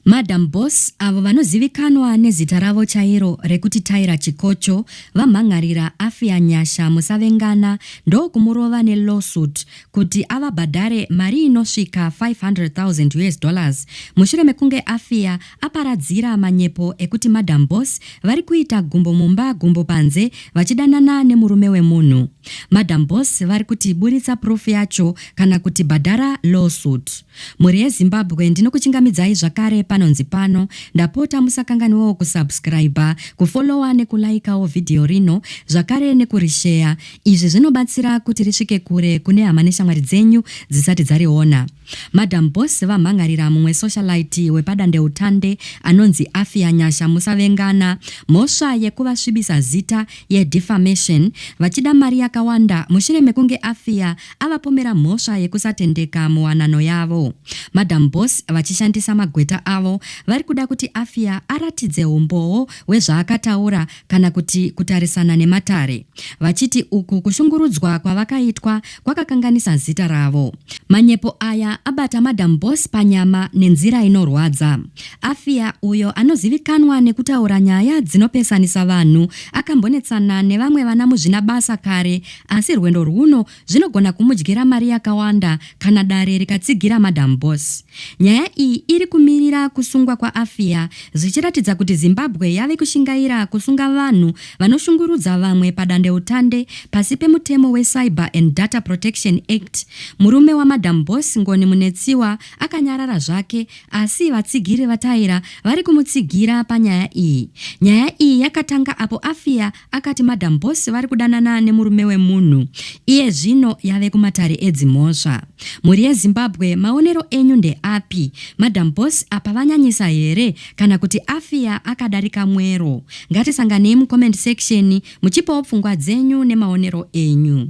Madam Boss avo vanozivikanwa nezita ravo chairo rekuti Tyra Chikocho vamhan'arira Afia Nyasha Musavengana ndokumurova nelawsuit kuti avabhadhare mari inosvika 500,000 US dollars mushure mekunge Afia aparadzira manyepo ekuti Madam Boss vari kuita gumbo mumba gumbo panze vachidanana nemurume wemunhu. Madam Boss vari kuti buritsa proof yacho kana kuti bhadhara lawsuit. Mhuri yeZimbabwe ndinokuchingamidzai zvakare panonzi pano. Ndapota musakanganwewo kusubscriber, kufollower nekulaikawo vhidhiyo rino zvakare nekurisheya. Izvi zvinobatsira kuti risvike kure kune hama neshamwari dzenyu dzisati dzariona. Madam Boss vamhan'arira mumwe socialite wepadandeutande anonzi Afia Nyasha Musavengana mhosva yekuvasvibisa zita, yeDefamation, vachida mari yakawanda mushure mekunge Afia avapomera mhosva yekusatendeka muwanano yavo. Madam Boss vachishandisa magweta avo vari kuda kuti Afia aratidze humbowo hwezvaakataura kana kuti kutarisana nematare vachiti uku kushungurudzwa kwavakaitwa kwakakanganisa zita ravo. Manyepo aya abata Madam Boss panyama nenzira inorwadza. Afia uyo anozivikanwa nekutaura nyaya dzinopesanisa vanhu akambonetsana nevamwe vana muzvinabasa kare Asi rwendo rwuno zvinogona kumudyira mari yakawanda kana dare rikatsigira Madam Boss. Nyaya iyi iri kumirira kusungwa kwaAfia zvichiratidza kuti Zimbabwe yave kushingaira kusunga vanhu vanoshungurudza vamwe padandeutande pasi pemutemo weCyber and Data Protection Act. Murume waMadam Boss, Ngoni Munetsiwa, akanyarara zvake asi vatsigiri vaTaira vari kumutsigira panyaya iyi. Nyaya iyi yakatanga apo Afia Akati madam boss vari kudanana nemurume wemunhu iye zvino yave kumatare edzimhosva. Mhuri yeZimbabwe maonero enyu ndeapi? Madam boss apa vanyanyisa here kana kuti afiya akadarika mwero? Ngatisanganei mucomment section muchipawo pfungwa dzenyu nemaonero enyu.